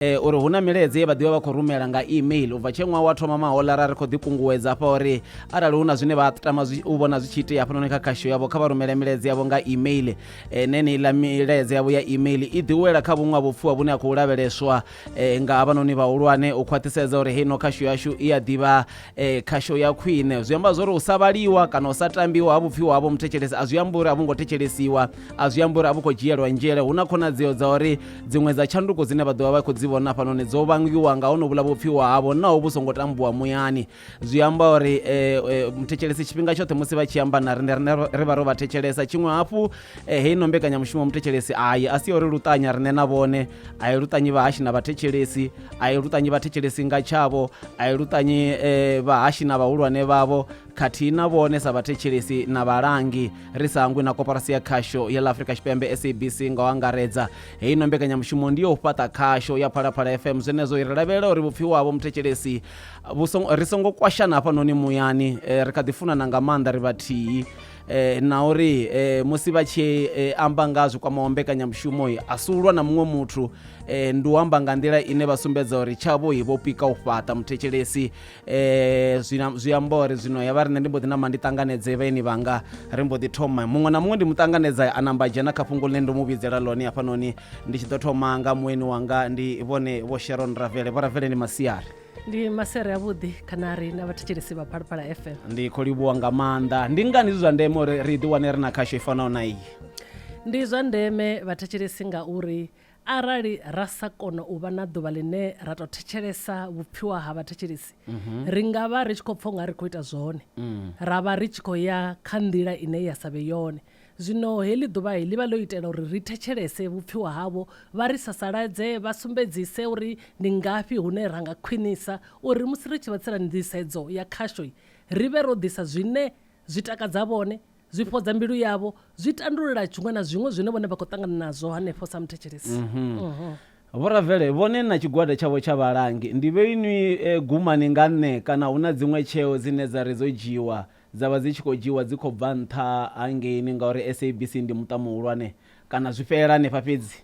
uri hu na milaedza ye vha ḓivha vha khou rumela nga email u bva tshe ṅwaha wa thoma maholara ri khou ḓikunguwedza hafha uri arali hu na zwine vha tama u vhona zwi tshi itea hafhanoni kha khasho yavho kha vha rumele milaedza yavho nga email e, neneiḽa milaedza yavho ya email i ḓiwela kha vhuṅwe ha vhupfhiwa vhune ha khou lavheleswa e, nga havhanoni vhahulwane u khwaṱhisedza uri heino khasho yashu i a ḓivha e, khasho ya khwine zwi amba zwa uri u sa vhaliwa kana u sa tambiwa ha vhupfhiwa havho muthetshelesi a zwi amba uri a vho ngo thetshelesiwa a zwi ambi uri a vhu khou dzhielwa nzhele hu na khonadzeo dza uri dziṅwe dza tshanduko dzine vha ḓovha vha khou dzi vhona hafhanoni dzo vangiwa nga honovhula vhupfiwa havho naho vhu songo tambuwa muyani zwi amba uri eh, eh, muthetshelesi tshifhinga tshoṱhe musi vha tshi amba na rine rine ri vha ro vha thetshelesa tshiṅwe hafhu eh, heino mbekanyamushumo muthetshelesi ayi a si ya uri luṱanya rine na vhone a i luṱanyi vhahashi na vhathetshelesi a i luṱanyi vhathetshelesi nga tshavho a i luṱanyi eh, vhahashi na vhahulwane vhavho khathihi na vhone sa vhathetshelesi na vhalangi ri sa hangwi na koporasi ya khasho ya ḽa afrika tshipembe sabc nga u angaredza heyi no mbekanyamushumo ndi yo u fhaṱa khasho ya phalaphala fm zwenezwo ri lavhelela uri vhupfiwa havho muthetshelesi ri songo kwashana hafhanoni muyani eh, ri kha ḓi funana nga maanḓa ri vhathihi eh, na uri eh, musi vha tshi eh, amba nga zwi kwamaho mbekanyamushumo a si ulwa na muṅwe muthu eh, ndi u amba nga nḓila ine vha sumbedza uri tshavho vho pika u fhaṱa muthetshelesi eh zwina zwi amba uri zwino ya vha riṋe ndi mbo ḓi namba ndi ṱanganedze vhaeni vhanga ri mbo ḓi thoma muṅwe na muṅwe ndi mu ṱanganedza a namba dzhena kha fhungo ḽine ndo mu vhidzela ḽone hafhanoni ndi tshi ḓo thoma nga mueni wanga ndi vhone vho sharon ravele vho ravele ndi masiari ndi masere avhuḓi kana ri na vhathetshelesi vha phalaphala fm ndi khou livhuwa nga maanḓa ndi ngani zwi zwa ndeme uri ri ḓi wane ri na khasho i fanaho na iyi ndi zwa ndeme vhathetshelesi ngauri Arali ra sa kona u vha na ḓuvha ḽine ra tou thetshelesa vhupfiwa ha vhathetshelesi, ri nga vha ri tshi khou pfa u nga ri khou ita zwone, ra vha ri tshi khou ya kha nḓila ine ya sa vhe yone. Zwino heḽi ḓuvha ḽi vha ḽo itela uri ri thetshelese vhupfiwa havho, vha ri sasaladze, vha sumbedzise uri ndi ngafhi hune ra nga khwinisa uri musi ri tshi vha tsela nḓisedzo ya khasho ri vhe ro ḓisa zwine zwi takadza vhone Zwi fhodza mbilu yavho, zwi tandulula zwiṅwe na zwiṅwe zwine vhone vha khou ṱangana nazwo hanefho sa muthetshelesi. Vhoravele vhone na tshigwada tshavho tsha vhalangi ndi vhe inwi e, gumani nga nṋe kana hu na dziṅwe tsheo dzine dza ri dzo dzhiiwa dza vha dzi tshi khou dzhiiwa dzi khou bva nṱha hangeini ngauri SABC ndi muṱa muhulwane kana zwi fhelela hanefha fhedzi.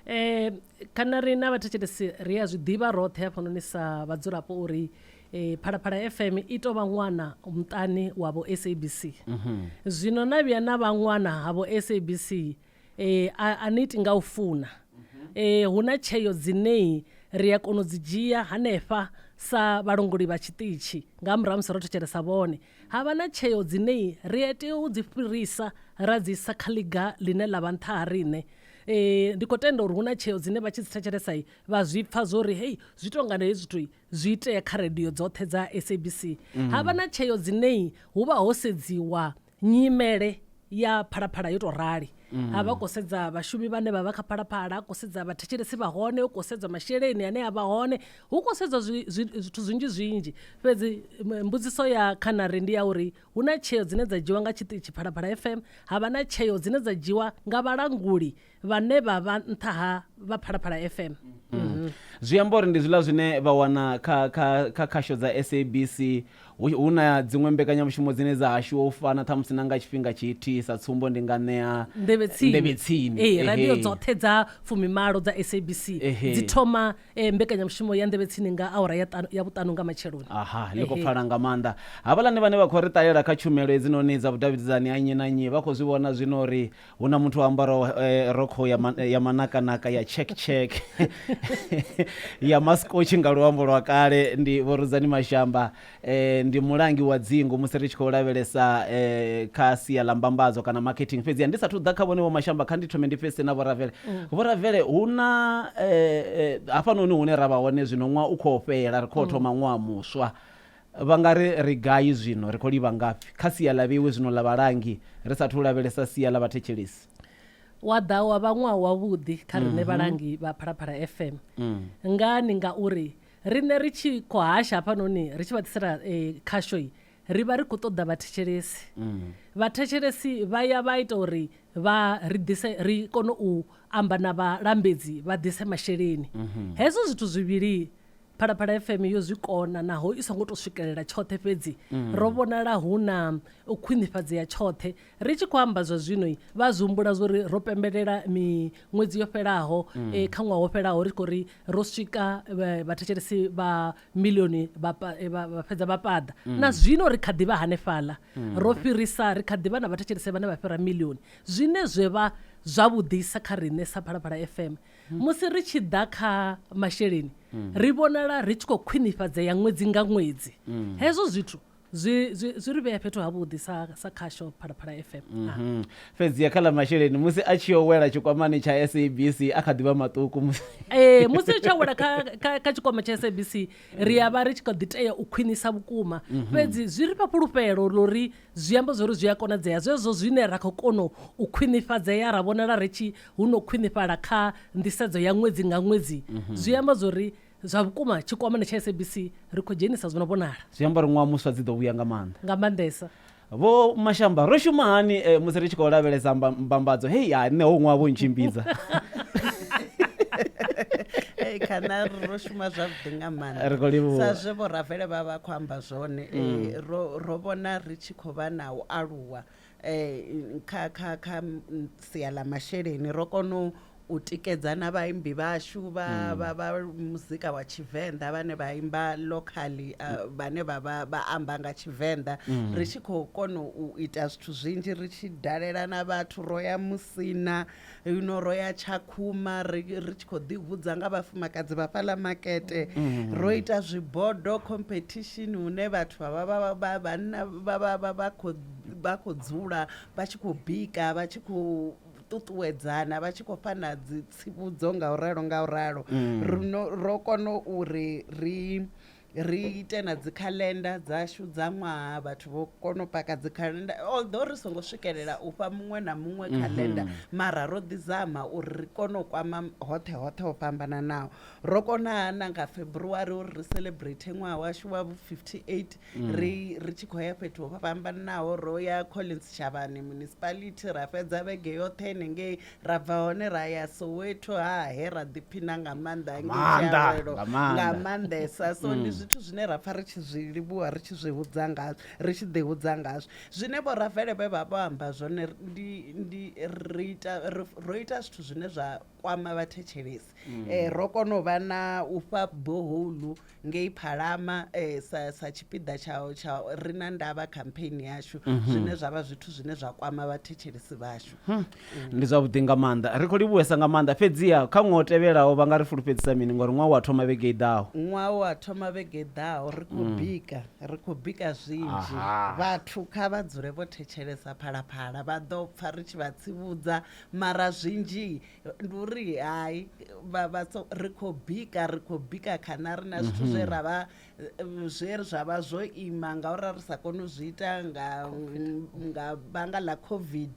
E, kana riṋe vhathetshelesi ri a zwi ḓivha roṱhe hafhanoni sa vhadzulapo uri Phalaphala FM i tou vha ṅwana muṱani wa vho SABC. Zwino na vhuya na vha ṅwana ha vho SABC a ni iti nga u funa. Hu na tsheo dzine ri a kona u dzi dzhia hanefha sa vhalongoli vha tshiṱitshi nga murahu ha musi ro thetshelesa vhone. Ha vha na tsheo dzine ri a tea u dzi fhirisa ra dzi isa kha ḽiga ḽine ḽa vha nṱha ha riṋe. Ndi khou tenda uri hu na tsheo dzine vha tshi dzi thetshelesa vha zwi pfha zwo ri hei zwi tou nga hezwi zwithu zwi itea kha radio dzoṱhe dza sabc ha vha na tsheo dzinei hu vha ho sedziwa nyimele ya phalaphala yo tou rali ha vha khou sedza vhashumi vhane vha vha kha phalaphala ha khou sedza vhathetshelesi vha hone hu khou sedzwa masheleni ane a vha hone hu khou sedzwa zwi- zwi- zwithu zwinzhi zwinzhi fhedzi m- mbudziso ya khanare ndi ya uri hu na tsheo dzine dza dzhiwa nga tshiṱitshi phalaphala fm ha vha na tsheo dzine dza dzhiwa nga vhalanguli vhane vha vha nṱha ha vha phalaphala fm Mhm. zwi amba uri ndi zwiḽa zwine vha wana kha kha kha khasho dza sabc hu hu na dziṅwe mbekanyamushumo dzine dza hashiwa u fana ṱhamusi na nga tshifhinga tshithihi sa tsumbo ndi nga ṋea nḓevhe tsini nḓevhe tsini ee radio Ehe. dzoṱhe dza fumimalo dza sabc Ehe. dzi thoma eh, mbekanyamushumo ya nḓevhe tsini nga awara ya ṱanu- ya vhuṱanu nga matsheloni aha ḽi khou Ehe. pfala nga maanḓa havhaḽani vhane vha khou ri ṱalela kha tshumelo hedzinoni dza vhudavhidzani ha nnyi na nnyi vha khou zwi vhona zwino uri hu na muthu o ambaraho eh, rokho ya, ma, ya manakanaka ya check check ya maskotshi nga luambo lwa kale ndi vhorudzani mashamba eh, ndi mulangi wa dzingu musi ri tshi khou lavhelesa eh, kha sia ḽa mbambadzo kana marketing fhedziha ndi sathu ḓa kha vhone vho mashamba kha ndi thome ndi pfese na vhoravele vhoravele hu na eh, eh, hafhanoni hune ra vha hone zwino ṅwaha u khou fhela ri khou thoma ṅwaha muswa Vha nga ri, Ri gai zwino? Ri khou livha ngafhi? Kha sia ḽa vheiwe zwino ḽa vhalangi, ri sa athu u lavhelesa sia ḽa vhathetshelesi. Wa ḓa wa vha ṅwaha wavhuḓi kha riṋe vhalangi vha Phalaphala FM. Ngani? Ngauri riṋe ri tshi khou hasha hafhanoni ri tshi vha ḓisela khasho, ri vha ri khou ṱoḓa vhathetshelesi. Vhathetshelesi vha ya vha ita uri vha ri ḓise, ri kone u amba na vhalambedzi vha ḓise masheleni. Hezwo zwithu zwivhili Phalaphala FM yo zwi kona naho i songo tou swikelela tshoṱhe fhedzi ro vhonala hu na u khwinifhadzea tshoṱhe. Ri tshi khou amba zwa zwino vha zwi humbula zwori ro pembelela miṅwedzi yo fhelaho eh, kha ṅwaha wo fhelaho ri tshi khou ri ro swika eh, vhathetshelesi vha milioni vha pa- eh, vha vha fhedza vha paḓa. Na zwino ri kha ḓi vha hanefhaḽa. Ro fhirisa ri kha ḓi vha na vhathetshelesi vhane vha fhira milioni. Zwine zwe vha zwavhuḓisa kha riṋe sa Phalaphala FM Musi ri tshi ḓa kha masheleni, ri vhonala ri tshi khou khwinifhadzea ṅwedzi nga ṅwedzi. Hezwo zwithu zwi, zwi, zwi ri vhea fhethu havhuḓi sa, sa khasho Phalaphala FM. Ah. Mhm. Fhedzi kha ḽa masheleni, musi a tshi yo wela tshikwamani tsha SABC, a kha ḓi vha maṱuku musi. Ee, musi ri tshi awela kha, kha, kha tshikwama tsha SABC, ri a vha ri tshi kha ḓi tea u khwinisa vhukuma. Fhedzi zwi ri fha fhulufhelo ḽa uri Zwi amba zwauri zwi a konadzea zwezwo zwine ra khou kono u khwinifhadzea ra vhonala ri tshi hu no khwinifhala kha nḓisedzo ya ṅwedzi nga ṅwedzi. Zwi amba zwauri zwa vhukuma tshikwamani tsha SABC ri khou dzhenisa zwo no vhonala. Zwi amba uri ṅwaha muswa dzi ḓo vhuya nga maanḓa. Nga maanḓesa. Vho Mashamba, Ro shuma hani musi ri tshi khou lavhelesa mbambadzo? Hei, hai, nṋe hoyu ṅwaha vho ntshimbidza. Kana ri ro shuma zwavhuḓi nga maanḓa. Ri khou livhuwa. Sa zwe Vho Ravele vha vha vha khou amba. zwone eh, ro ro vhona ri tshi khou vha na u aluwa eh, kha kha kha mm, sia ḽa masheleni ro kona u- u tikedza na vhaimbi vhashu vha vha vha muzika wa tshivenḓa vhane vha imba locally ah, vhane vha vha vha amba nga tshivenḓa ri tshi khou kona u ita zwithu zwinzhi ri tshi dalela na vhathu ro ya musina Huno ro ya Tshakhuma ri, ri tshi khou ḓihudza nga vhafumakadzi vha fhaḽa makete. Ro ita zwibodo competition hune vhathu vha vha vha vha vhanna vha vha vha vha khou vha khou dzula vha tshi khou bika vha tshi khou ṱuṱuwedzana vha tshi khou fhana dzi tsivhudzo nga u ralo nga u ralo. Ri no, ro kona uri ri Ri ite na dzi calendar dzashu dza ṅwaha vhathu vho kona u paka dzi calendar although ri songo swikelela u fha muṅwe na muṅwe mhm. calendar mara ro ḓi zama uri ri kone u kwama hoṱhe hoṱhe ho fhambananaho ro kona na nga February uri ri celebrate ṅwaha washu wa 58 mm. ri ri tshi khou ya fhethu ho fhambananaho ro ya Collins Shavhani municipality ra fhedza vhege yoṱhe nengei ra bva hone ra ya soweto ha he ra ḓiphina nga maanḓa nga maanḓesa so ndi mm. zwithu zwine ra pfha ri tshi zwi livhuwa ri tshi zwi hudza ngazwo ri tshi ḓi hudza ngazwo zwine vho rafele vhe vha vho amba zwone ro ita zwithu zwine zwa kwama vhathetshelesi um ro kona u vha na u fha boholu ngei Phalama eh, sa, sa tshipiḓa tsha, tsha ri na ndavha campaign yashu mhm. zwine zwa vha zwithu zwine zwa kwama vhathetshelesi vhashu hmm. mm. ndi zwavhuḓi nga maanḓa ri khou livhuwesa nga maanḓa fhedziha kha ṅwaha o tevhelaho vha nga ri fulufhedzisa mini ngori ṅwaha wa thoma vhege i ḓaho ṅwaha wa thoma vhege i ḓaho ri khou mm. bika ri khou bika zwinzhi vhathu kha vha dzule vho thetshelesa phalaphala vha ḓo pfa ri tshi vha tsivhudza mara zwinzhi ndi uri hai ri khou bika ri khou bika khana ri na zwithu zwe ra vha zwe zwa vha zwo ima ngauri ra ri sa kone u zwi ita nga nga vhanga ḽa covid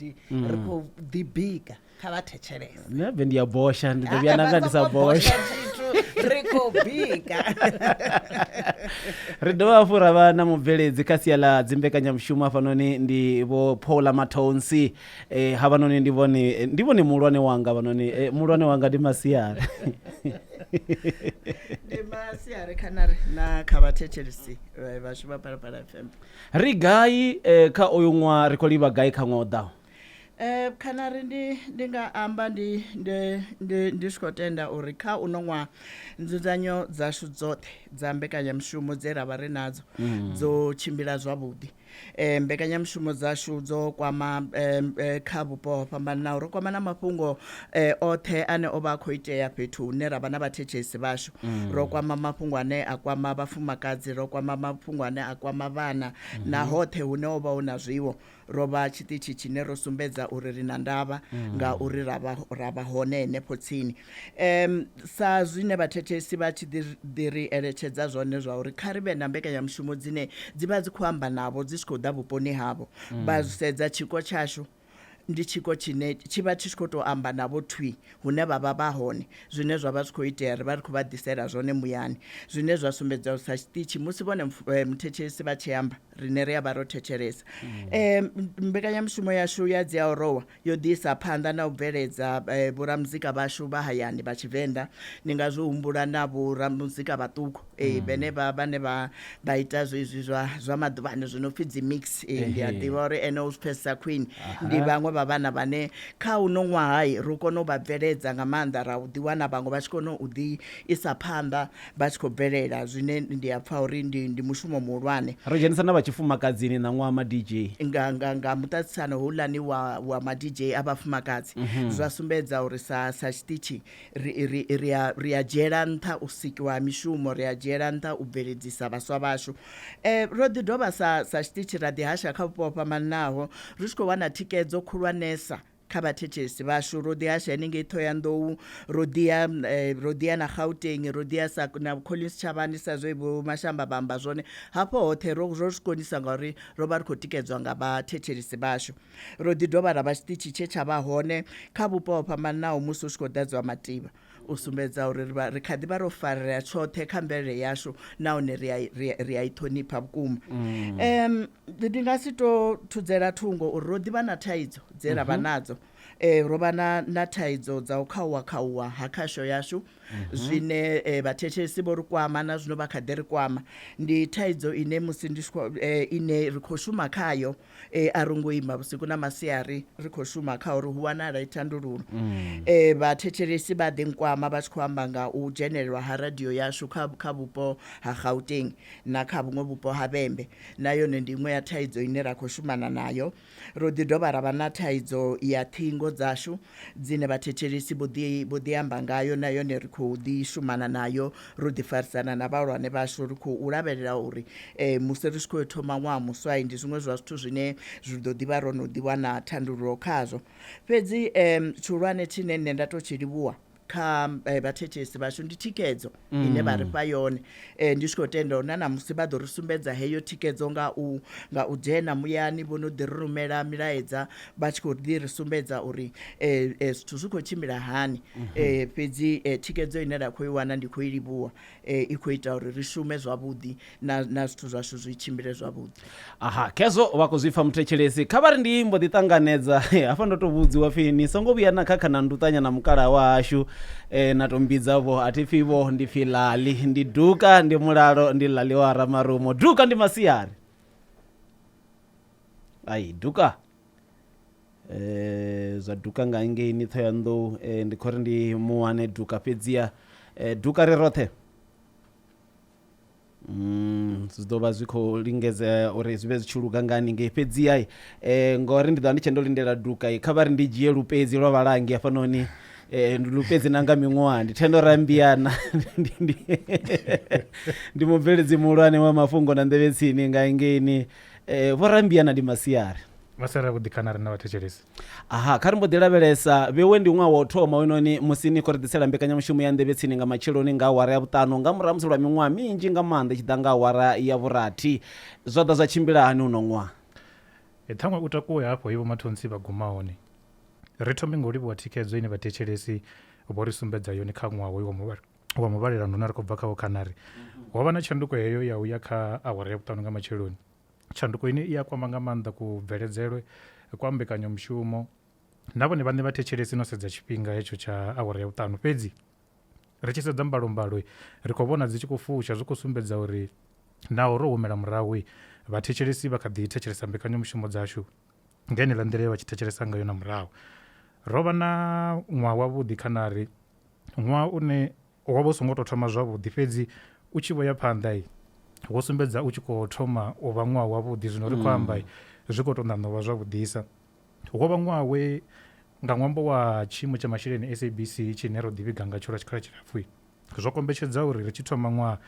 ri khou ḓi bika kha vha thetshelese nṋe bve ndi ya bosha ndi ḓo vhuya nda nga ndi sa bosha ri khou bika ri dovha hafhu ra vha na mubveledzi kha sia ḽa dzimbekanyamushumo hafhanoni ndi vho paula matonsi e, havhanoni ndi vhone ndi vhone muhulwane wanga vhanoni e, muhulwane wanga ndi masiari ndi masiari khana ri na kha vhathetshelisi eh, vhashu vha phalaphala fm ri gai e, kha uyu ṅwaha ri khou livha gai kha ṅwaha u ḓaho Eh kana ri ndi ndi nga amba ndi ndi ndi ndi tshi khou tenda uri kha uno ṅwaha nzudzanyo dzashu dzoṱhe dza mbekanyamushumo dze ra vha ri nadzo dzo tshimbila zwavhuḓi E, mbekanyamushumo dzashu dzo kwama e, e, kha vhupo ho fhambananaho ro kwama na mafhungo e, oṱhe ane o vha a khou itea fhethu hune ra vha na vhathetshesi vhashu mm. ro kwama mafhungo ane a kwama vhafumakadzi ro kwama mafhungo ane a kwama vhana mm -hmm. na hoṱhe hune o vha hu na zwiwo ro vha tshiṱitshi tshine ro sumbedza uri ri na ndavha mm. nga uri ra vha hone henefho tsini E, sa zwine vhathethesi vha tshi ḓi ri eletshedza zwone zwa uri kha ri vhe na mbekanyamushumo dzine dzi vha dzi khou amba navho dzi tshi khou ḓa vhuponi havho mm. vha sedza tshiko tshashu ndi tshiko tshine tshi vha tshi tshi khou tou amba navho thwi hune vha vha vha hone zwine zwa vha zwi khou itea ri vha ri khou vha ḓisela zwone muyani zwine zwa sumbedza uri sa tshiṱitshi musi vhone eh, muthetshelesi vha tshi amba rine ri a vha ro thetshelesa um mbekanyamushumo yashu ya dzi aorowa yo ḓi isa phanḓa na u bveledza vhoramuzika vhashu vha hayani vha Tshivenḓa. Ni nga zwi humbula na vhoramuzika vhaṱuku vhene vha vhane vha vha ita zwezwi zwa zwa maḓuvhani zwi no pfi dzi mix. Ndi a ḓivha uri ene u zwi pfhesesa khwine. Ndi vhaṅwe vha vhana vhane kha uno ṅwaha ro kona u vha bveledza nga maanḓa ra ḓi wana vhaṅwe vha tshi kona u ḓi isa phanḓa vha tshi khou bvelela zwine ndi a pfa uri ndi, ndi mushumo muhulwane. Ro dzhenisa na vha tshifumakadzini na ṅwaha ma-DJ. Nga, nga, nga muṱaṱisano houḽani wa, wa ma-DJ a vhafumakadzi, zwa sumbedza uri sa, sa tshiṱitshi ri, ri, ri, a, ri a dzhiela nṱha u sikiwa ha mishumo, ri a dzhiela nṱha u bveledzisa vhaswa vhashu. E, ro ḓi dovha sa, sa tshiṱitshi ra ḓihasha kha vhupo ho fhambanaho ri tshi khou wana thikedzo khulwanesa. kha vhathethesi vhashu ro ḓihasha henengei ṱhoyandou ro ḓiya eh, ro ḓiya na gauteng ro ḓiya sa na collins tshavhani sa zwe vho mashamba vha amba zwone hafho hoṱhe ro ro zwi konisa ngauri ro vha ri khou tikedzwa nga vhathethelisi vhashu ro ḓi dovha ra vha tshiṱitshi tshe tsha vha hone kha vhupo ho fhambananaho musi hu tshi khou ḓadziwa mativha U sumbedza uri ri vha ri kha ḓi vha ro farea tshoṱhe kha mvelele yashu nahone ri a ri ri a i ṱhonipha vhukuma em ndi nga si to thudzela thungo uri ro ḓivha na thaidzo dze ra vha mhm. nadzo eh ro vha na na thaidzo dza u khauwa khauwa ha khasho yashu mhm. zwine eh, vhathetshelesi vho ri kwama na zwino vha kha ḓi ri kwama ndi thaidzo ine musi ndi eh, ine ri khou shuma khayo e, a ro ngo ima vhusiku na masiari ri khou shuma kha uri hu wanale thandululo mm. e, vhathetshelesi vha ḓi nkwama vha tshi khou amba nga u dzhenelelwa ha radio yashu kha, kha vhupo ha gauteng na kha vhuṅwe vhupo ha vhembe na yone ndi iṅwe ya thaidzo ine ra khou shumana nayo ro ḓi dovha ra vha na thaidzo ya ṱhingo dzashu dzine vhathethelesi vho ḓi vho ḓi amba ngayo na yone ri khou ḓi shumana nayo ro ḓi farisana na vhahulwane vhashu ri khou lavhelela uri eh, musi ri tshi khou thoma ṅwaha muswai ndi zwiṅwe zwa zwithu zwine zwi ḓo ḓivha ro no ḓi wana thandululo khazwo fhedzi eh, tshihulwane tshine nṋe nda tou tshi livhuwa kha eh, vhathethesi vhashu ndi thikedzo mm. ine vha ri fha yone um ndi tshi khou tenda uri na namusi vha ḓo ri sumbedza heyo thikedzo nga u nga u dzhena muyani vho no ḓi ri rumela milaedza vha tshi khou ḓi ri sumbedza uri um zwithu zwi khou tshimbila hani um fhedzi thikedzo ine ra khou i wana ndi khou i livhuwa i khou ita uri ri shume zwavhuḓi na, na zwithu zwashu zwi tshimbile zwavhuḓi aha khezwo vha khou zwi pfa muthetshelesi kha vha ri ndi mbo ḓi ṱanganedza hafha ndo tou vhudziwa pfhi ni songo vhuya na khakha na nduṱanya na mukalaha wa hashu e, na tou mbidza vho a thi pfhi vho ndi pfhi lali ndi duka ndi mulalo ndi lali wa ramarumo duka ndi masiari ai duka zwa duka nga ngeini ṱhohoyanḓou ndi khou ri ndi mu wane duka fhedziha duka ri roṱhe Mm, zwi ḓo vha zwi khou lingedzea uri zwi vhe zwi tshi luga nga haningei fhedziha um eh, ngori ndi ḓo vha ndi tshe ndo lindela duka kha vha ri ndi dzhie lupedzi lwa vhalangi hafhanoni um eh, lupedzi na nga miṅwaha ndi thendo rambiana ndi mubveledzi muhulwane wa mafhungo na nḓevhetsini nga ngeini Eh, vho rambia na ndi masiari vha sala vho ḓikhana riṋe vhathetshelesi aha kha ri mbo ḓi lavhelesa vhewe ndi ṅwaha wa u thoma wenoni musi ni khou ri ḓisela mbekanyamushumo ya nḓevhe tsini nga matsheloni nga awara ya vhuṱanu nga murahu musi lwa miṅwaha minzhi nga maanḓa i tshi ḓa nga awara ya vhurathi zwa ḓa zwa tshimbila hani uno ṅwaha e ṱhaṅwe u takuwe hafho he vhomathonsi vha guma hone ri thome nga u livhuwa thikhedzo ine vhathetshelesi vho ri sumbedza yone kha ṅwaha hoyu wa muvhala wa muvhalelano une ri khou bva khawo kana ri mhm. ho vha na tshanduko heyo ya u ya kha awara ya vhuṱanu nga matsheloni tshanduko ine i a kwama nga maanḓa kubveledzele kwa mbekanyamushumo na vhone vhaṋe vha thetshelesi no sedza tshifhinga hetsho tsha awara ya vhuṱanu fhedzi ri tshi sedza mbalombalo ri khou vhona dzi tshi khou fusha zwi khou sumbedza uri naho ro humela murahu vhathetshelesi vha kha ḓi thetshelesa mbekanyamushumo dzashu nga ine ḽa nḓila ye vha tshi thetshelesa ngayo na murahu ro vha na ṅwaha wavhuḓi khanari Ṅwaha une wo vha u songo tou thoma zwavhuḓi fhedzi u tshi vho ya phanḓa wo sumbedza u tshi khou thoma u vha ṅwaha wavhuḓi zwino ri khou amba zwi khou tou ṋaṋa u vha zwavhuḓisa. Wo vha ṅwaha we nga ṅwambo wa tshiimo tsha masheleni SABC tshine ro ḓivhiga ngatsho lwa tshikhala tshilapfhu zwo kombetshedza uri ri tshi thoma ṅwaha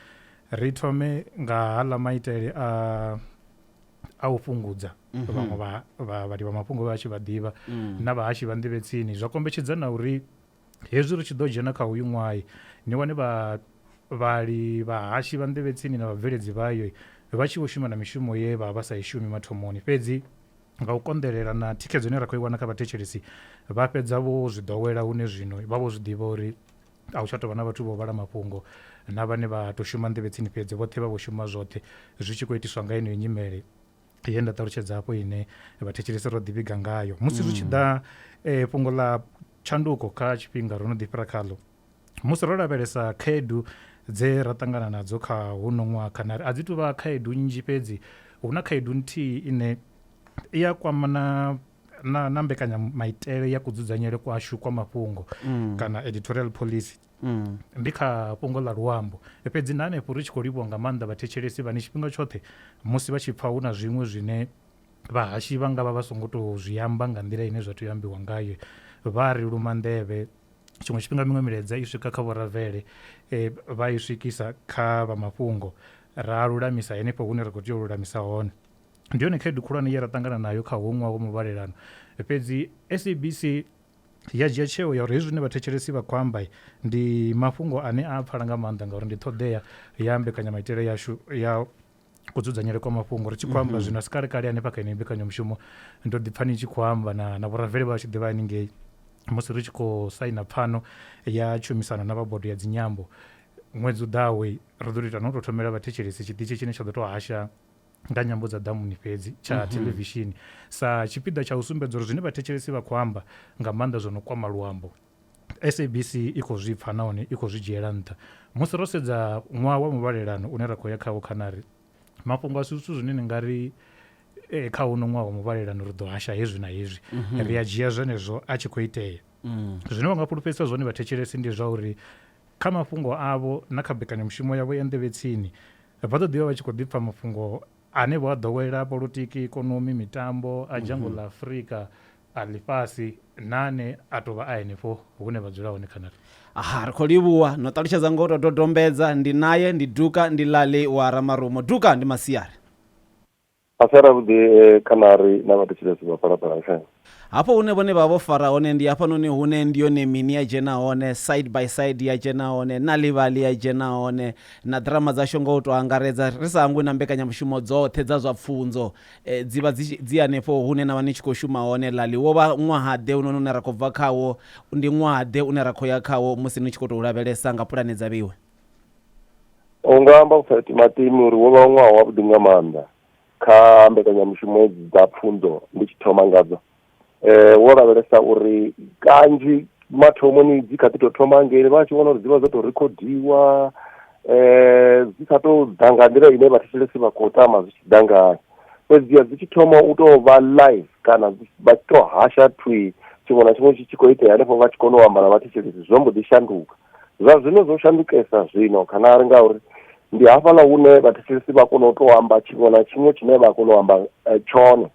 ri thome nga haḽa maitele a a u fhungudza vhaṅwe vha vha vhali vha mafhungo vha tshi vha ḓivha na vhahashi vha nḓivhetsini zwa kombetshedza na uri Hezwi ri tshi ḓo dzhena kha hoyu ṅwaha, ni wane vhavhali, vhahashi, vhanḓevhetsini na vhabveledzi vhayo vha tshi vho shuma na mishumo ye vha vha vha sa i shumi mathomoni. Fhedzi nga u konḓelela na thikhedzo ine ra khou i wana kha vhathetshelesi, vha fhedza vho zwi ḓowela hune zwino vha vho zwi ḓivha uri a hu tsha tou vha na vhathu vho vhala mafhungo na vhane vha tou shuma nḓevhetsini fhedzi, vhoṱhe vha vho shuma zwoṱhe. Zwi tshi khou itiswa nga yeneyo nyimele ye nda ṱalutshedza afho ine vhathetshelesi ro ḓivhiga ngayo. Musi zwi tshi ḓa fhungo ḽa. tshanduko kha tshifhinga ro no ḓi fhira khaḽo musi ro lavhelesa khaedu dze ra ṱangana nadzo kha huno ṅwaha kana a dzi tuvha khaedu nnzhi fhedzi hu na khaedu nthihi ine i a kwama na na, na mbekanyamaitele ya kudzudzanyele kwashu kwa mafhungo mm. kana editorial policy Mm. ndi kha fhungo ḽa luambo fhedzi na hanefho ri tshi khou livhuwa nga maanḓa vhathetshelesi vhane tshifhinga tshoṱhe musi vha tshi pfha hu na zwiṅwe zwine Vhahashi vha nga vha vha songo tou zwi amba nga nḓila ine zwa tea u ambiwa ngayo vha ri luma nḓevhe tshiṅwe tshifhinga miṅwe milaedza i swika kha vhoravele e, vha i swikisa kha vha mafhungo ra lulamisa henefho hune ra khou tea u lulamisa hone ndi yone khaedu khulwane ye ra ṱangana nayo kha hoṅwa wa muvhalelano fhedzi sabc ya dzhia tsheo ya uri hezwi zwine vhathetshelesi vha khou amba ndi mafhungo ane a pfala nga maanḓa ngauri ndi ṱhoḓea ya mbekanyamaitele yashu ya kudzudzanyele kwa mafhungo ri tshi khou amba mhm. zwino a si kalekale hanefha kha ine mbekanyamushumo ndo ḓi pfani tshi khou amba na na vhuraveli vha tshi ḓivha haningei musi ri tshi khou saina pfano ya tshumisano na vha bodo ya dzinyambo ṅwedzi u ḓawe ri ḓo ita no tou thomela vhathetshelesi tshiṱitshi tshine tsha ḓo tou hasha nga nyambo dza ḓamuni fhedzi tsha mm -hmm. thelevishini sa tshipiḓa tsha u sumbedza uri zwine vhathetshelesi vha khou amba nga maanḓa zwo no kwama luambo SABC i khou zwi pfa nahone i khou zwi dzhiela nṱha. Musi ro sedza ṅwaha wa muvhalelano une ra khou ya khawo khanari mafhungo a si zwithu zwine ni nga ri eh, kha uno ṅwaha wa muvhalelano ri ḓo hasha hezwi na hezwi mhm. ri a dzhia zwenezwo a tshi khou itea mm. zwine vha nga fhulufhedzisa zwone vhathetshelesi ndi zwa uri kha mafhungo avho na kha bekanyamushumo yavho ya nḓevhetsini vha ḓo ḓivha vha tshi khou ḓipfa mafhungo ane vho a ḓowela polotiki, ikonomi, mitambo a dzhango ḽa Afrika, a ḽifhasi na ane a tou vha a henefho hune vha dzula hone Canada. Aha, ri khou livhuwa. No ṱalutshedza nga u tou dodombedza. Ndi nae, ndi Duka, ndi Lali wa Ramarumo. Duka, ndi masiari. Masiari avhuḓi kha na ri na vhathetshelesi vha Phalaphala FM. Hafho hune vhone vha vha vho fara hone ndi hafhanoni hune ndi yone mini ya dzhena hone, Side by Side ya dzhena hone, Nal'ibali ya dzhena hone, na ḓirama dzashu nga u tou angaredza, ri sa hangwi na mbekanyamushumo dzoṱhe dza zwa pfunzo dzi vha dzi dzi hanefho hune na vha ni tshi khou shuma hone. Lali, Wo vha ṅwaha-ḓe hounoni une ra khou bva khawo? Ndi ṅwaha-ḓe une ra khou ya khawo musi ni tshi khou tou lavhelesa nga pulane dza vheiwe? U nga amba u sa timatimi uri wo vha ṅwaha wavhuḓi nga maanḓa. kha mbekanyamushumo hedzi dza pfunzo ndi tshi thoma ngadzo eh wo lavhelesa uri kanzhi mathomoni dzi kha ḓi tou thoma ngeli vha tshi vhona uri dzi vha dzo tou rekhodiwa eh dzi sa tou ḓa nga nḓila ine vhathetshelesi vha khou tama zwi tshi ḓa ngayo fhedziha dzi tshi thoma u tou vha live kana vha tshi tou hasha thwi tshiṅwe na tshiṅwe tshi tshi khou itea hanefho vha tshi kona u amba na vhathetshelesi zwo mbo ḓi shanduka zwa zwino zwo shandukesa zwino kana ri ngauri Ndi hafhaḽa hune vhathetshelesi vha kona u tou amba tshiṅwe na tshiṅwe tshine vha kona u amba tshone.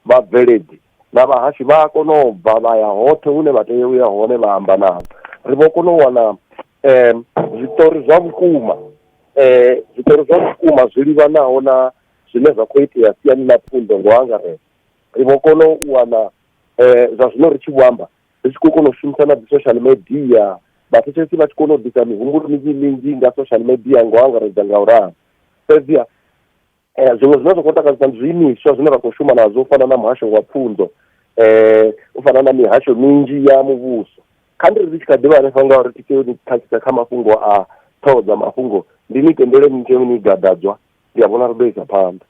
Vhabveledzi na vhahashi vha a kona u bva vha ya hoṱhe hune vha tea u ya hone vha amba navho. Ri vho kona u wana zwiṱori zwa vhukuma, zwiṱori zwa vhukuma zwi livhanaho na zwine zwa khou itea siani ḽa pfunzo nga u angaredza. Ri vho kona u wana zwa zwino ri tshi vho amba ri tshi khou kona u shumisa na dzi social media vhathetshelesi vha tshi kona u ḓisa mihumbulo minzhi minzhi nga social media ngo angaredza nga u ralo fhedziha um zwiṅwe zwine zwa khou takadzisa ndi zwiimiswa zwine ra khou shuma nazwo u fana na muhasho wa pfunzo um u fana na mihasho minzhi ya muvhuso kha ndi ri ri tshi kha ḓivha hanefha nga uri titeo ni khakhisa kha mafhungo a ṱhoho dza mafhungo ndi ni tendele ni teo ni gadadzwa ndi a vhona ri ḓo isa phanḓa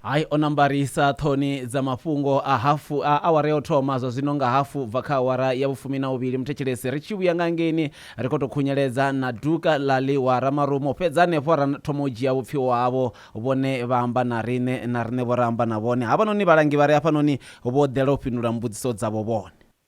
Hai o no ambarisa ṱhoni dza mafhungo a hafu a awara ya u thoma, zwa zwino nga hafu u bva kha awara ya vhufumi na vhuvhili muthetshelesi ri tshi vhuya nga ngeini ri khou tou khunyeledza na duka ḽa ḽi wa Ramarumo, fhedzi hanefho ra thoma u dzhia vhupfiwa havho vhone vha amba na riṋe na riṋe vho ra amba na vhone. Havhanoni vhalangi vha re hafhanoni vho ḓela u fhindula mbudziso dzavho vhone.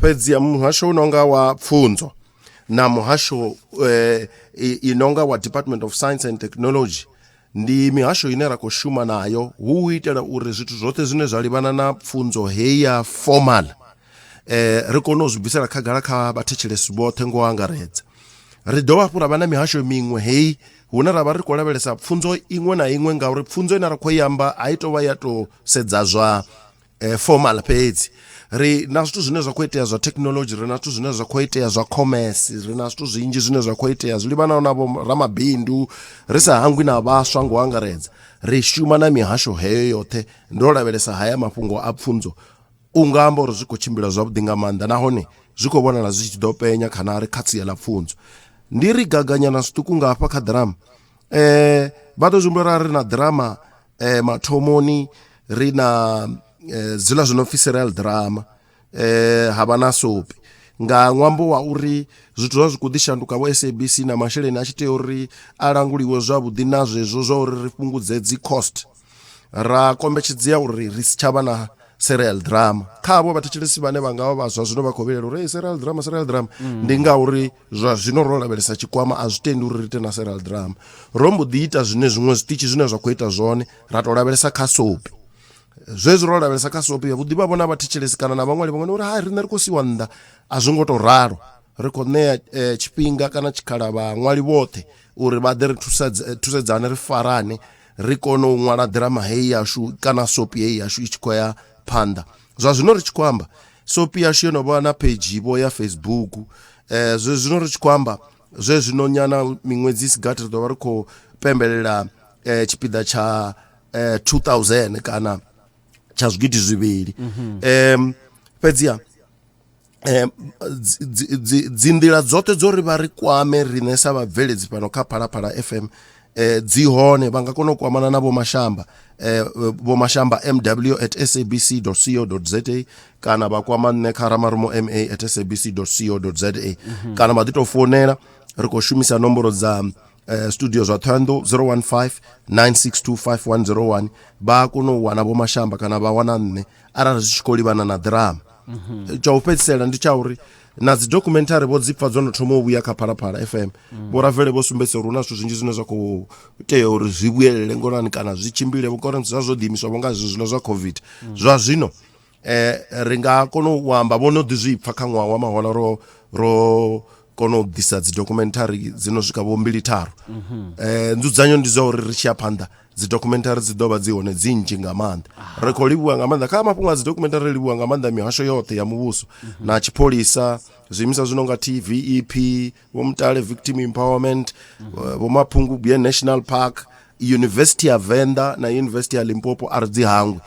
fhedzi ya muhasho unonga wa pfunzo na muhasho eh, inonga wa department of science and technology ndi mihasho ine ra khou shuma nayo hu u itela uri zwithu zwoṱhe zwine zwa livhana na pfunzo heyi ya formal eh, ri kone u zwi bvisela khagala kha vhathetshelesi vhoṱhe ngo angaredza ri dovha hafhu ra vha na mihasho miṅwe heyi hune ra vha ri khou lavhelesa pfunzo iṅwe na iṅwe ngauri pfunzo ine ra khou i amba a i tou vha ya tou sedza zwa eh, formal fhedzi ri na zwithu zwine zwa khou itea zwa thekhinolodzhi ri na zwithu zwine zwa khou itea zwa commerce ri na zwithu zwinzhi zwine zwa khou itea zwi livhanaho na ramabindu ri sa hangwi na vhaswa ngo angaredza ri shuma na mihasho heyo yoṱhe ndo lavhelesa haya mafhungo a pfunzo u nga amba uri zwi khou tshimbila zwavhuḓi nga maanḓa nahone zwi khou vhonala zwi tshi ḓo penya kana ri kha sia ḽa pfunzo ndi ri gaganyana zwiṱuku nga hafha kha ḓirama um vha ḓo zwi humbula ri na ḓirama eh mathomoni ri na eh, zwiḽa zwi no pfi serial drama eh ha vha na sopi nga ṅwambo wa uri zwithu zwa zwi khou ḓi shanduka vho sabc na masheleni a tshi tea uri a languliwe zwavhuḓi na zwezwo zwa uri ri fhungudze dzi cost ra kombetshedzea uri ri si tshavha na serial drama kha avho vhathetshelesi vhane vha nga vha vhaswa zwino vha khou vhilela uri hey, serial drama serial drama mm. ndi ngauri zwa zwino ro lavhelesa tshikwama a zwi tendi uri ri ite na serial drama ro mbo ḓi ita zwine zwiṅwe zwiṱitshi zwine zwa khou ita zwone ra tou lavhelesa kha sopi zwezwi ro lavhelesa kha sopi yavhuḓi vha vhona vhathetshelesi kana na vhaṅwali vhaṅwe uri hai riṋe ri khou siwa nnḓa a zwi ngo tou ralo ri khou ṋea eh, tshifhinga kana tshikhala vhaṅwali vhoṱhe uri vha ḓe ri eh, thusedzane ri farane ri kone u ṅwala ḓirama heyi yashu kana sopi heyi yashu i tshi khou ya phanḓa zwa zwino ri tshi khou amba sopi yashu yo no vha na page vho ya facebook eh zwe zwino ri tshi khou amba zwe zwino nyana miṅwedzi i si gathi ri ḓo vha ri khou pembelela eh tshipiḓa tsha eh 2000 kana tsha zwigidi zwivhili em fhedziha eh, dzi nḓila dzoṱhe dzo ri vha ri kwame riṋe sa vhabveledzi fhano kha phalaphala fm eh, dzi hone vha nga kona u kwamana na vhomashamba eh, vhomashamba mw at sabc co za kana vha kwama nṋe kha ramarumo ma at sabc co za mhm. kana vha ḓi tou founela ri khou shumisa nomboro dza Eh, studio zwa thohoyandou 015 9625 vha a kona u wana vho mashamba kana vha wana nṋe arali zwi tshi khou livhana na ḓirama mhm. tsha u fhedzisela ndi tsha uri na dzi documentary vho dzipfa dzo no thoma u vhuya kha phalaphala fm mm. vho ravele vho sumbedzisa uri hu na zwithu zwinzhi zwine zwa khou tea uri zwi vhuyelele ngolani kana zwi tshimbile vhukore zwa zwo ḓiimiswa vho nga zwi zwiḽa zwa covid mm. zwa zwino eh ri nga kona u amba vho no ḓi zwi pfa kha ṅwaha wa mahola ro ro kona u ḓisa dzi documentary dzi no swika vho mbili tharu eh nzudzanyo ndi zwa uri ri tshi ya phanḓa dzi documentary dzi ḓo vha dzi hone dzi nnzhi nga maanḓa ri khou livhuwa nga maanḓa kha mafhungo a dzi documentary ri livhuwa nga maanḓa mihasho yoṱhe ya muvhuso na tshipholisa zwiimiswa zwi no nga tv ep vho mutale victim empowerment eh, vho maphungubwe national park university ya venḓa na university ya limpopo a ri dzi hangwi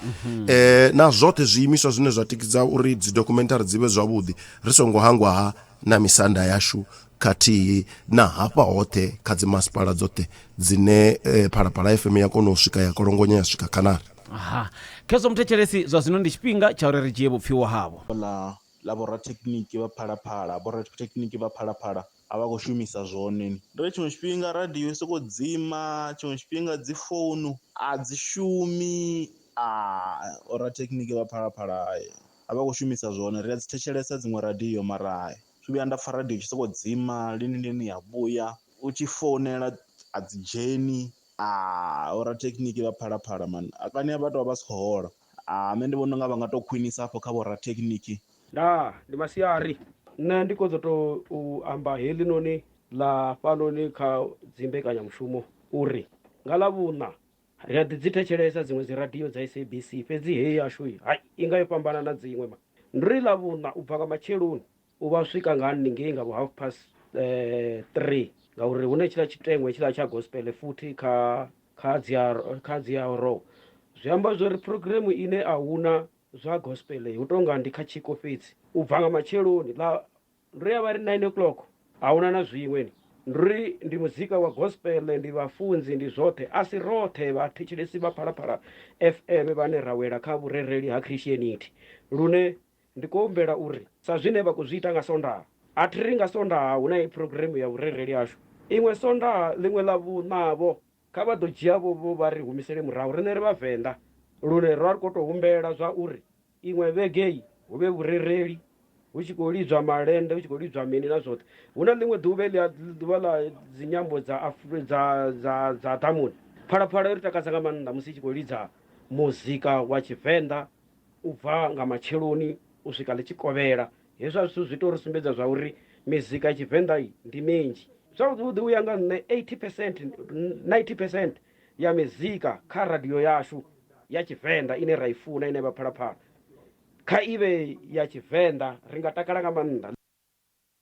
eh, na zwoṱhe zwiimiswa zwine zwa tikidza uri dzi documentary dzi vhe zwavhuḓi ri songo hangwa ha na misanda yashu khathihi na hafha hoṱhe kha dzimasipala dzoṱhe dzine eh, phalaphala fm ya kona u swika ya kolongonya ya swika khanari aha khezwo muthetshelesi zwa zwino ndi tshifhinga tsha uri ri dzhie vhupfiwa havho ḽa ḽa vho rathekhiniki vha phalaphala, vho rathekhiniki vha phalaphala a vha khou shumisa zwone. Ndi uri tshiṅwe tshifhinga radio i sokou dzima, tshiṅwe tshifhinga dzi founu a dzi shumi a vho rathekhiniki vha phalaphala a vha khou shumisa zwone, ri a dzi thetshelesa dziṅwe radio mara thi thu vhuya nda pfha radio i tshi sokou dzima lini lini ya vhuya, u tshi founela a dzi dzheni a vho rathekhiniki vha phalaphala mani, kana vha tou vha vha si khou hola. Ah, nṋe ndi vhona unga vha nga to khwinisa afho kha vho rathekhiniki. Ndaa, ndi masiari. Nṋe ndi khou ḓo tou u amba heḽinoni ḽa fhanoni kha dzimbekanyamushumo uri nga Ḽavhuṋa ri a ḓi dzi thetshelesa dziṅwe dziradio dza SABC, fhedzi heyi yashu hai, i nga yo fhambana na dziṅwe. Ndi ri Ḽavhuṋa u bva nga matsheloni U vha swika nga haningei nga vho half past three ngauri hune tshiḽa tshiteṅwa hetshiḽa tsha gospel futhi kha kha dzi a kha dzi a ro zwi amba zwori program ine a huna zwa gospel hu tonga ndi kha tshiko fhedzi u bva nga matsheloni ḽa ndo ya vha ri nine o'clock ahuna na zwiṅwe ni ndi uri ndi muzika wa gospel ndi vhafunzi ndi zwoṱhe a si roṱhe vhathetshelesi vha phalaphala fm vhane ra wela kha vhurereli ha christianity lune Ndi khou humbela uri sa zwine vha khou zwi ita nga Sondaha, a thi ri nga Sondaha hu na heyi phurogiremu ya vhurereli hashu, ḽiṅwe Sondaha, ḽiṅwe Ḽavhuṋa-vho, kha vha ḓo dzhia-vho-vho vha ri humisele murahu, riṋe ri Vhavenḓa, lune ra ri khou tou humbela zwa uri iṅwe vhege-i hu vhe vhurereli, hu tshi khou lidzwa malende, hu tshi khou lidzwa mini na zwoṱhe. Hu na ḽiṅwe ḓuvha heḽia, ḓuvha ḽa dzinyambo dza Afri, dza, dza, dza ḓamuni. Phalaphala i ri takadza nga maanḓa musi i tshi khou lidza muzika wa Tshivenḓa. u bva nga matsheloni u swika ḽi tshi kovhela. Hezwa zwithu zwi tou ri sumbedza zwa uri mizika ya Tshivenḓa ndi minzhi. Zwavhuḓi u ya nga nṋe 80 percent, 90 percent ya mizika kha radio yashu ya Tshivenḓa ine ra i funa, ine ya vha Phalaphala, kha i vhe ya Tshivenḓa ri nga takala nga maanḓa.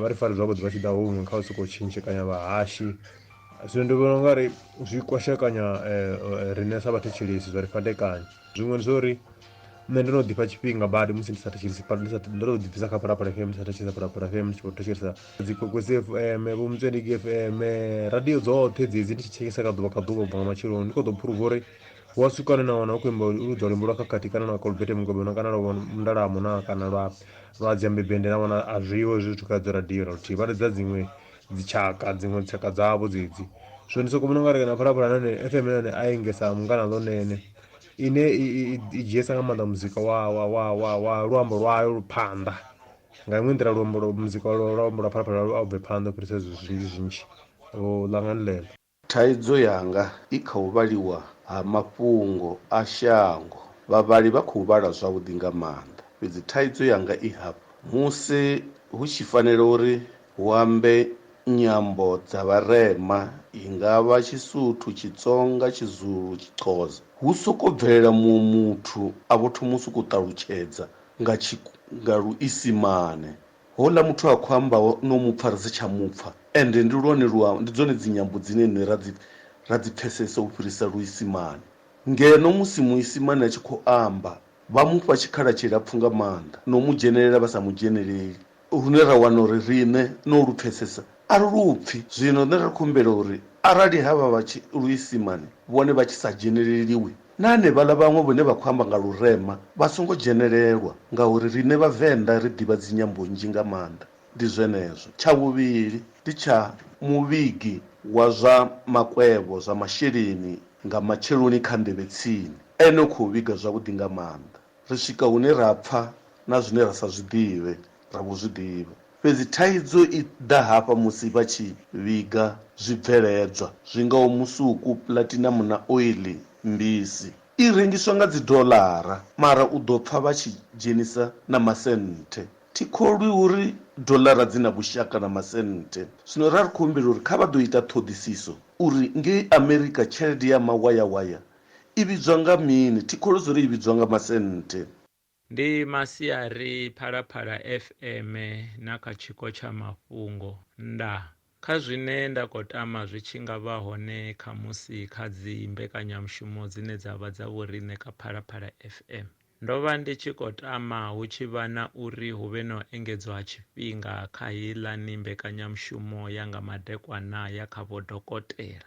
vha ri fari zwavhuḓi vha tshi ḓa huṅwe kha u sokou tshintshekanyo vhahashi zwino ndi vhona ungari zwi kwashekanya riṋe sa vhathu tshilisi zwa ri fhandekanya zwiṅwe ndi zwa uri nṋe ndo no ḓifha tshifhinga badi musi ndi sa thetshelesi ndi sa ndo no ḓibvisa kha phalaphala fm ndi sa thetshelesa phalaphala fm ndi tshi khou thetshelesa dzi kokwesi fm vho mutswedingi fm radio dzoṱhe dzedzi ndi tshi thetshelesa nga ḓuvha nga ḓuvha ubva nga matsheloni ndi kho ḓo phuruva uri wa sukane na wana u khou imba u ludza luimbo lwa khakhathi kana lwa kolbete mugobeno kana lwa mundalamo na kana lwa lwa dziambebende na wana a zwiho hezwi zwithu kha dzo radio na luthihi vha lidza dziṅwe dzitshaka dziṅwe dzitshaka dzavho dzedzi so ndi soko vhona nga ri kana phalaphala nane fm nane a engesa mungana ḽo nene ine i dzhiesa nga maanḓa muzika wa wa wa wa wa luambo lwayo phanḓa nga iṅwe nḓila luambo muzika lwa luambo lwa phalaphala a u bve phanḓa u fhirisa zwinzhi zwinzhi o ḽangani ḽeḽo Thaidzo yanga i kha u vhaliwa ha mafhungo a shango. Vhavhali vha khou vhala zwavhuḓi nga maanḓa, fhedzi thaidzo yanga i hafha, Musi hu tshi fanela uri hu ambe nyambo dza vharema, i nga vha Tshisuthu, Tshitsonga, Tshizulu, Tshixhosa, hu sokou bvelela muṅwe muthu a vho thoma u sokou ṱalutshedza nga Tshi, nga Luisimane. Houḽa muthu a khou ambaho no mu pfa ri si tsha mu pfa, ende ndi lwone luambo, ndi dzone dzinyambo dzine riṋe ra dzi, ra dzi pfesesa u fhirisa Luisimane. Ngeno musi Muisimane a tshi khou amba, vha mu fha tshikhala tshilapfu nga maanḓa, no mu dzhenelela vha sa mu dzheneleli, lune ra wana uri riṋe no lu pfesesa a ri lu pfi. Zwino nṋe ri khou humbela uri arali havha vha tshi Luisimane vhone vha tshi sa dzheneleliwi, Na hanevhaḽa vhaṅwe vhone vha khou amba nga lurema vha songo dzhenelelwa ngauri riṋe Vhavenḓa ri ḓivha dzinyambo nnzhi nga maanḓa. Ndi zwenezwo. Tsha vhuvhili ndi tsha muvhigi wa zwa makwevho, zwa masheleni, nga matsheloni kha nḓevhe tsini. Ene u khou vhiga zwavhuḓi nga maanḓa. Ri swika hune ra pfa na zwine ra sa zwi ḓivhe ra vho zwi ḓivha. Fhedzi thaidzo i ḓa hafha musi vha tshi vhiga zwibveledzwa zwi ngaho musuku, pulatinamu na oiḽi. Mbisi i rengiswa nga dzidollara, mara u ḓo pfa vha tshi dzhenisa na masenthe. Thi kholwi uri dollara dzi na vhushaka na masenthe. Zwino ra ri khou humbela uri kha vha ḓo ita ṱhoḓisiso uri ngei Amerika tshelede ya mawayawaya i vhidzwa nga mini. Thi kholwi zwo ri i vhidzwa nga masenthe. Ndi masiari Phalaphala FM na kha tshiko tsha mafhungo. Ndaa. Kha zwine nda khou tama zwi tshi nga vha hone khamusi kha dzi mbekanyamushumo dzine dza vha dza vhoriṋe kha Phalaphala FM. Ndo vha ndi tshi khou tama hu tshi vha na uri hu vhe na u engedzwa ha tshifhinga kha heiḽani mbekanyamushumo ya nga madekwana ya kha vhodokotela.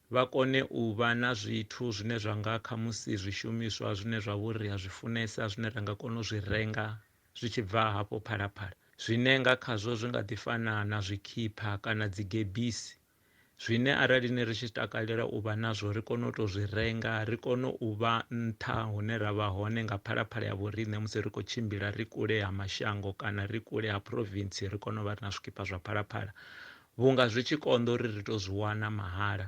vha kone u vha na zwithu zwine zwa nga khamusi zwishumiswa zwine zwa vhori ri a zwi funesa zwine ra nga kona u zwi renga zwi tshi bva hafho Phalaphala, zwine nga khazwo zwi nga ḓi fana na zwikhipha kana dzigebisi, zwine arali ni ri tshi takalela u vha nazwo ri kone u tou zwi renga, ri kone u vha nṱha hune ra vha hone nga Phalaphala ya vhoriṋe musi ri khou tshimbila ri kule ha mashango kana ri kule ha province ri kone u vha ri na zwikhipha zwa Phalaphala Vhunga zwi tshi konḓa uri ri tou zwi wana mahala.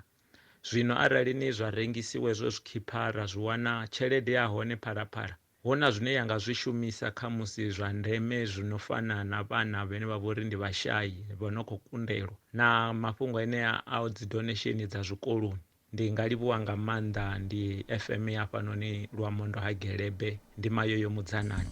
Zwino arali ni zwa rengisiwa hezwo zwikhipha ra zwi wana tshelede ya hone phalaphala, hu na zwine ya nga zwi shumisa khamusi zwa ndeme zwi no fana na vhana vhane vha vha uri ndi vhashai vha no khou kundelwa na mafhungo enea a dzi donesheni dza zwikoloni. Ndi nga livhuwa nga maanḓa ndi FM ya hafhanoni Luamondo ha Gelebe ndi mayo yo mudzanani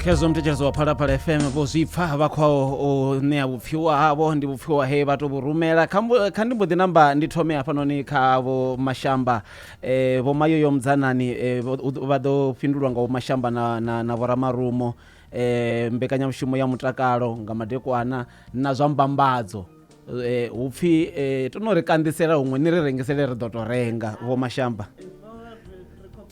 khezwo muthetshelesi wa phalaphala fm vho zwi pfa vha khou u ṋea vhupfiwa havho ndi vhupfiwa he vha tou vhu rumela kha ndi mbo ḓi namba ndi thome hafhanoni kha vho mashamba eh, vho mayoyo mudzanani eh, vha ḓo fhindulwa nga vho mashamba na, na, na vhoramarumo eh, mbekanyamushumo ya mutakalo nga madekwana na zwa mbambadzo Eh, hu pfi eh, to no ri kanḓisela huṅwe ni ri rengisele ri ḓo tou renga vho mashamba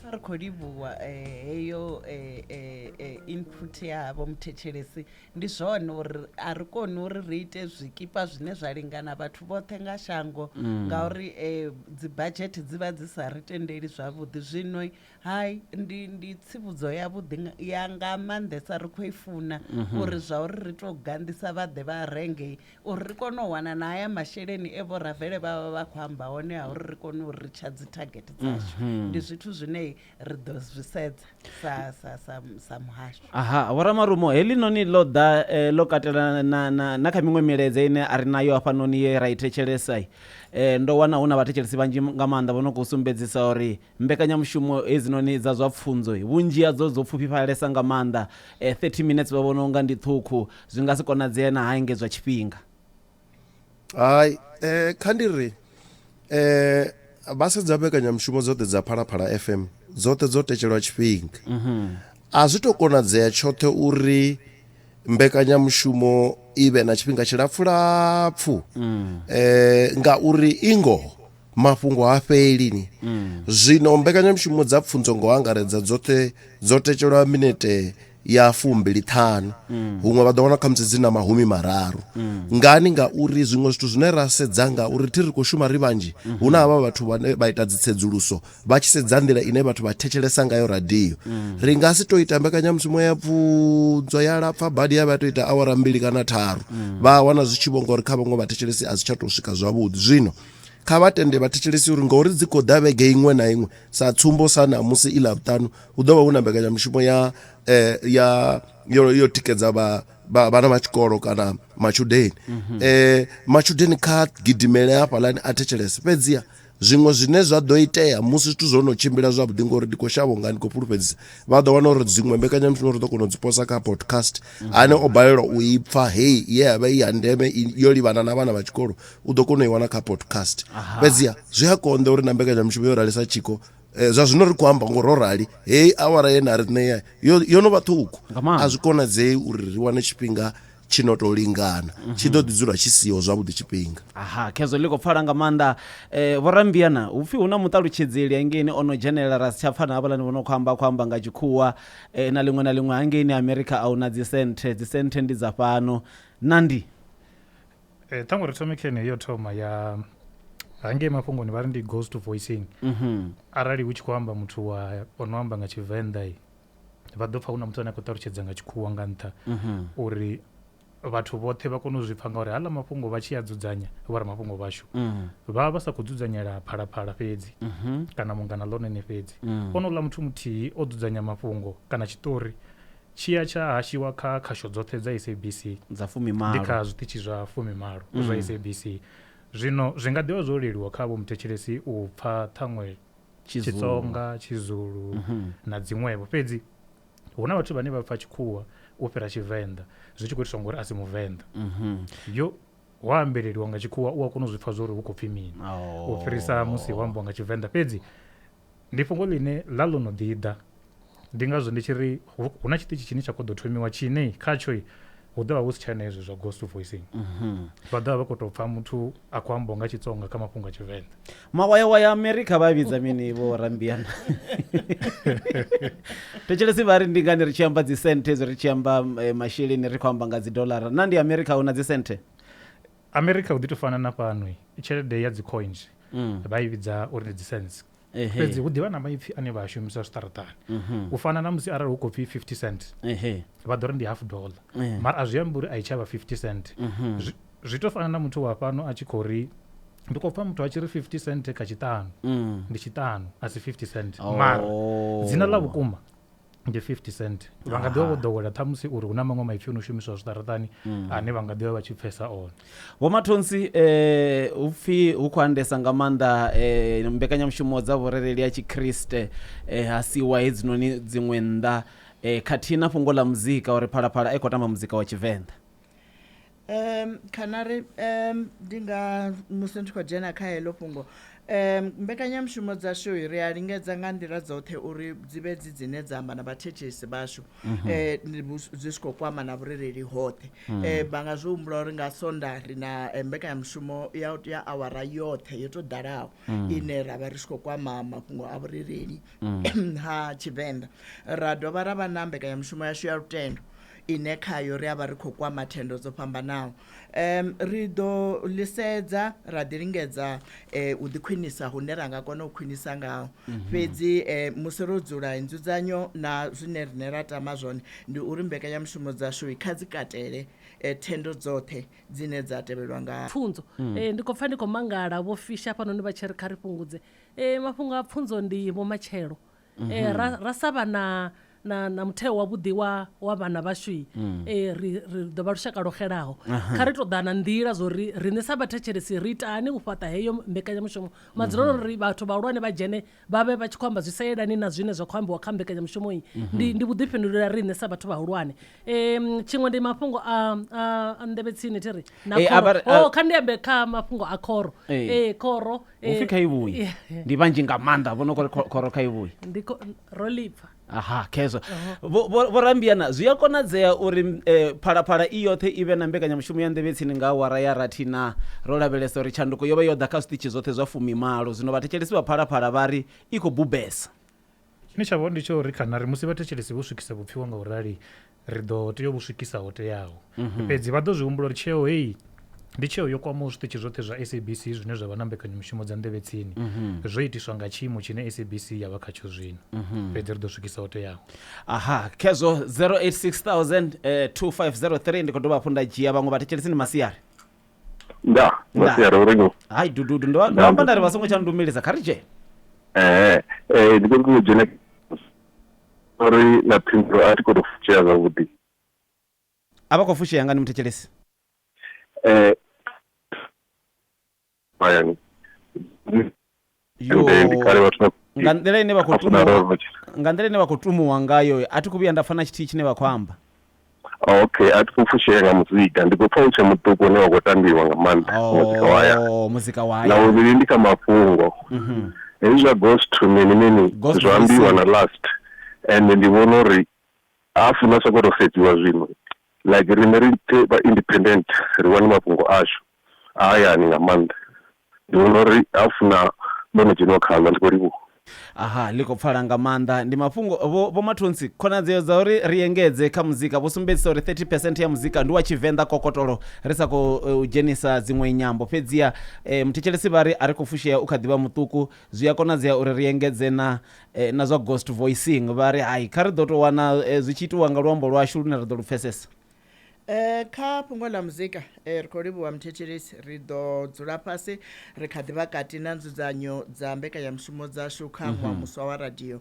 ri khou livhuwa eh, heyo eh, eh, eh, input yavho muthetshelesi ndi zwone uri a ri koni uri ri ite zwikipa zwine zwa lingana vhathu vhoṱhe nga shango ngauri eh, dzibadzhete dzi vha dzi sa ri tendeli zwavhuḓi zwino Hai ndi ndi tsivhudzo ya vhuḓi ya nga maanḓesa ri kho i funa mhm. uri zwa uri ri to ganḓisa vha ḓe vha renge uri ri kone u wana na haya masheleni e vho ravele vha vha vha kho amba hone ha uri ri kone u ri tsha dzi target dzashu mhm. ndi zwithu zwine ri ḓo zwi sedza sa sa sa sa muhasho aha vho ramarumo heḽi noni ḽo ḓa eh, ḽo katela na na na kha miṅwe miledze ine a ri nayo hafha noni ye ra i thetshelesa eh, ndo wana hu na vhathetshelesi vhanzhi nga maanḓa vho no khou sumbedzisa uri Mbekanyamushumo hedzinoni dza zwa pfunzo, vhunzhi hadzo dzo pfufhifhalesa nga maanḓa. 30 minetse vha vhona u nga ndi ṱhukhu. Zwi nga si konadzee na ha engedzwa tshifhinga. Hai, kha ndi ri, vha sedza mbekanyamushumo dzoṱhe dza Phalaphala FM, dzoṱhe dzo tetshelwa tshifhinga. A zwi tou konadzea tshoṱhe uri mbekanyamushumo i vhe na tshifhinga tshilapfulapfu ngauri i ngoho mafhungo ha fheli ni mm. zwino mbekanyamushumo dza pfunzo ngo angaredza dzoṱhe dzo tetshelwa minete ya fumbili ṱhanu mm. huṅwe vha ḓo wana khamusi dzi na mahumi mararu mm. ngani ngauri zwiṅwe zwithu zwine ra sedza nga uri thi ri khou shuma ri vhanzhi mm-hmm. hu na havha vhathu vhane vha ita dzitsedzuluso vha tshi sedza nḓila ine vhathu vha thetshelesa ngayo radio mm. ri nga si to ita mbekanyamushumo ya pfunzo ya lapfa badi ya vha to ita awara mbili kana tharu vha wana zwi tshi vho ngori kha vhaṅwe vhathetshelesi a si tsha to swika zwavhuḓi zwino Kha vha tende vhathetshelesi uri ngauri dzi khou ḓa vhege iṅwe na iṅwe sa tsumbo sa ṋamusi i ḽavhuṱanu hu ḓo vha hu na mbekanyamushumo ya eh, ya yo, yo tikedza vha vha- vhana vha tshikolo kana matshudeni Mhm. eh matshudeni kha gidimele hafhalani a thetshelese fhedziha zwiṅwe zwine zwa ḓo itea musi zwithu zwo no tshimbila zwavhuḓi ngori ndi khou shavha unga ndi khou fhulufhedzisa vha ḓo wana uri dziṅwe mbekanyamushumo ri ḓo kona u dzi posa kha podcast Mhm. ane o balelwa u i pfa hei ye ya vha i ya ndeme i- yo livhana na vhana vha tshikolo u ḓo kona u i wana kha podcast fhedziha zwi a konḓa uri na mbekanyamushumo yo ralisa tshiko eh, zwa zwino ri khou amba ngo ro rali heyi awara ye na ri ṋea yo yo no vha ṱhukhu Nga maanḓa. a zwi konadzei uri ri wane tshifhinga tshi no tou lingana tshi ḓo ḓi dzula tshi siho zwavhuḓi tshifhinga aha khezwo ḽi khou pfala nga maanḓa um vhorambiana hu pfhi hu na muṱalutshedzeli hangeini o no dzhenelela ra si tsha pfana havhalani vho no khou amba khou amba nga tshikhuwa um na ḽiṅwe na ḽiṅwe hangeini amerika a hu na dzisenthe dzisenthe ndi dza fhano nandi eh, ṱhango ri thome khene yo thoma ya hangei mafhungoni vha ri ndi ghost voicing mhm. arali hu tshi khou amba muthu wa o no amba nga tshivenḓa i vha ḓo pfa hu na muthu ane a khou ṱalutshedza nga tshikhuwa nga nṱha mhm. uri vhathu vhoṱhe vha kone u zwi pfa ngauri hala mafhungo vha tshi a dzudzanya vho ra mafhungo vhashu mhm. vha vha sa khou dzudzanyela phalaphala fhedzi kana mungana ḽonene fhedzi onoula muthu muthihi o dzudzanya mafhungo kana tshiṱori Tshi ya tsha hashiwa kha khasho dzoṱhe dza SABC, dza fumimalo, ndi kha zwiṱitshi zwa fumimalo zwa SABC. Zwino zwi nga ḓi vha zwo leluwa kha vhomuthetshelesi u pfa ṱhaṅwe Tshitsonga, Tshizulu na dziṅwevho. Fhedzi hu na vhathu vhane vha pfa Tshikhuwa u fhira Tshivenḓa zwi tshi khou itiswa ngori a si Muvenḓa. Yo, wa ambeleliwa nga Tshikhuwa u a kona u zwi pfa zwa uri hu khou pfi mini u fhirisa musi ho ambiwa nga Tshivenḓa. Fhedzi Ndi fhungo ḽine ḽa ḽo no ḓi ḓa. Ndi ngazwo ndi tshi ri hu na tshiṱitshi tshine tsha khou ḓo thomiwa tshine khatsho hu ḓo vha hu si tshena hezwi zwa ghost voicing mhm. vha ḓo vha vha khou tou pfha muthu a khou amba nga tshitsonga kha mafhungo a tshivenḓa mawayawaya ya amerika vha vhidza mini vho rambiana thetshelesi vha ri ndi ngani ri tshi amba dzisenthe dzo ri tshi amba eh, masheleni ri khou amba nga dzidolara na ndi amerika hu na dzisenthe America hu ḓi tou fana na fhano, tshelede ya dzi coins vha i vhidza uri ndi dzi cents. Ehe. Fhedzi hu ḓivha na maipfi ane vha a shumisa zwiṱaraṱani. U fana na musi arali hu khou pfi 50 cent, Ehe. vha ḓo ri ndi half dollar. Eh. Mara a zwi ambi uri a i tshavha 50 cent. Zwi- Zwi tou fana na muthu wa fhano a tshi khou ri ndi khou pfa muthu a tshi ri 50 cent kha tshiṱanu. Mm. Ndi tshiṱanu, a si 50 cent. Oh. Mara dzina ḽa vhukuma ndi 50 cent vha nga ḓi vha vho ḓowela ṱhamusi uri hu na maṅwe maipfi o no shumiswa zwiṱaraṱani mm. ane vha nga ḓi vha vha tshi pfesa one vho mathonsi um eh, hu pfhi hu khou andesa nga maanḓa um mbekanyamushumo dza vhurereli ya tshikriste um ha siwa hedzinoni dziṅwe nnḓa um khathihi na fhungo ḽa muzika uri phalaphala a i khou tamba muzika wa tshivenḓa um khanari um ndi nga musi ndi tshi khou dzhena kha heḽo fhungo um mbekanyamushumo dzashu ri a lingedza nga nḓila dzoṱhe uri dzi vhe dzi dzine dza amba na vhathethesi vhashu um dzi tshi khou kwama na vhurereli hoṱhe um vha nga zwi humbula uri nga sonda ri na eh, mbekanyamushumo ya ya awara yoṱhe yo tou ḓalaho ine ra vha ri tshi khou kwama mafhungo a vhurereli ha tshivenḓa ra dovha ra vha na mbekanyamushumo yashu ya lutendo ine khayo ri a vha ri khou kwama thendo dzo fhambanaho. Ri ḓo ḽi sedza ra ḓilingedza u ḓikhwinisa hune ra nga kona u khwinisa ngaho. Mhm. Fhedzi musi ro dzula, nzudzanyo na zwine riṋe ra tama zwone ndi uri mbekanyamushumo dzashu kha dzi katele thendo dzoṱhe dzine dza tevhelwa nga. Pfunzo. Mm. Ndi khou pfa ndi khou mangala, vho Fischer hafhanoni vha tshi ri kha ri fhungudze mafhungo a pfunzo ndi vhumatshelo. eh, ra, ra sa vha na na, na mutheo wavhuḓi wa, wa vhana vhashu eh, ri, ri ḓo vha lushaka lwo xelaho kha ri tou ḓa na nḓila zwo ri riṋe sa vhathetshelesi ri itani u fhaṱa heyo mbekanyamushumo madzulelo ri vhathu vhahulwane vha dzhene vha vhe vha tshi khou amba zwi sa yelani na zwine zwa khou ambiwa kha mbekanyamushumo iyi ndi, ndi vhuḓifhinduleli ha riṋe sa vhathu vhahulwane um tshiṅwe ndi mafhungo a a- a nḓevhe tsini thi ri na Eh, a vha khoro ri- a- oh, kha ndi ambe kha mafhungo a khoro Eh. ee khoro eh, upfi kha i vhuyi yeah. ndi vhanzhi nga maanḓa vho no kori kho- khoro kha i vhuyi ndi kho- ro lipfa aha khezwo Vho- vho- vhorambiana zwi a konadzea uri um phalaphala i yoṱhe i vhe na mbekanyamushumo ya nḓevhe tsini nga awara ya rathi na ro lavhelesa uri tshanduko yo vha yo ḓa kha zwiṱitshi zwoṱhe zwa fumimalo zwino vhathetshelesi vha phalaphala vha ri i khou bubesa Tshine tsha vha hone ndi tsha uri kana ri musi vhathetshelesi vho swikisa vhupfiwa nga u rali ri ḓo tea u vhu swikisa ho teaho mhm. fhedzi vha ḓo zwi humbula uri tsheo heyi ndi tsheo yo kwamaho zwiṱitshi zwoṱhe zwa sabc zwine zwa vha na mbekanyamushumo dza nḓevhe tsini mhm. zwo itiswa nga tshiimo tshine sabc ya vha khatsho zwino mhm. fhedzi ri ḓo swikisa ho teaho aha khezwo 086 2503 eh, ndi khou dovha hafhu nda dzhia vhaṅwe vhathetshelesi ni masiari nda masiari uri no hai dududu ndo amba ndari vha songo tsha ndumelisa kha ri dzhene ee ee ndi khou ṱoḓa dzhene uri na phindulo a thi khou tou fushea zwavhuḓi a vha khou fushea nga ni muthetshelesi ee bayani Yo, ende ndi kale vhathu vha nga nḓila ine vha khou funa tumuwa roro tshi- nga nḓila ine vha khou tumuwa ngayo a thi khou vhuya nda pfa na tshithihi tshine vha khou amba Ah, okay a thi khou fushea nga muzika ndi khou pfa u tshe muṱuku une wa khou tambiwa nga maanḓa muzika wa haya Oh, muzika wa na haya uri ndi kha mafhungo Mhm. hezwi zwa ghost to mini mini Ghost zwa ambiwa releasing. na last and ndi vhona uri a funa soko to sedziwa zwino Like riṋe ri vha independent ri wane mafhungo ashu a hayani nga maanḓa ndi vhona uri ha funa ndo no dzheniwa khaḽo ndi khou livhuwa. Aha, ḽi khou pfala nga maanḓa. Ndi mafhungo vho Vho Mathontsi. Khonadzeo dza uri ri engedze kha muzika vho sumbedzisa uri 30 percent ya muzika ndi wa Tshivenḓa kokotolo ri sa khou dzhenisa dziṅwe nyambo. Fhedziha muthetshelesi vha ri a ri khou fushea u kha ḓi vha muṱuku, zwi a konadzea uri ri engedze na na zwa ghost voicing vha ri hai, kha ri ḓo tou wana zwi tshi itiwa nga luambo lwashu lune ra ḓo lu pfesesa. Kha fhungo ḽa muzika, ri khou livhuwa muthetshelesi. Ri ḓo dzula fhasi ri kha ḓi vha kati na nzudzanyo dza mbekanyamushumo dzashu kha ṅwaha muswa wa radio.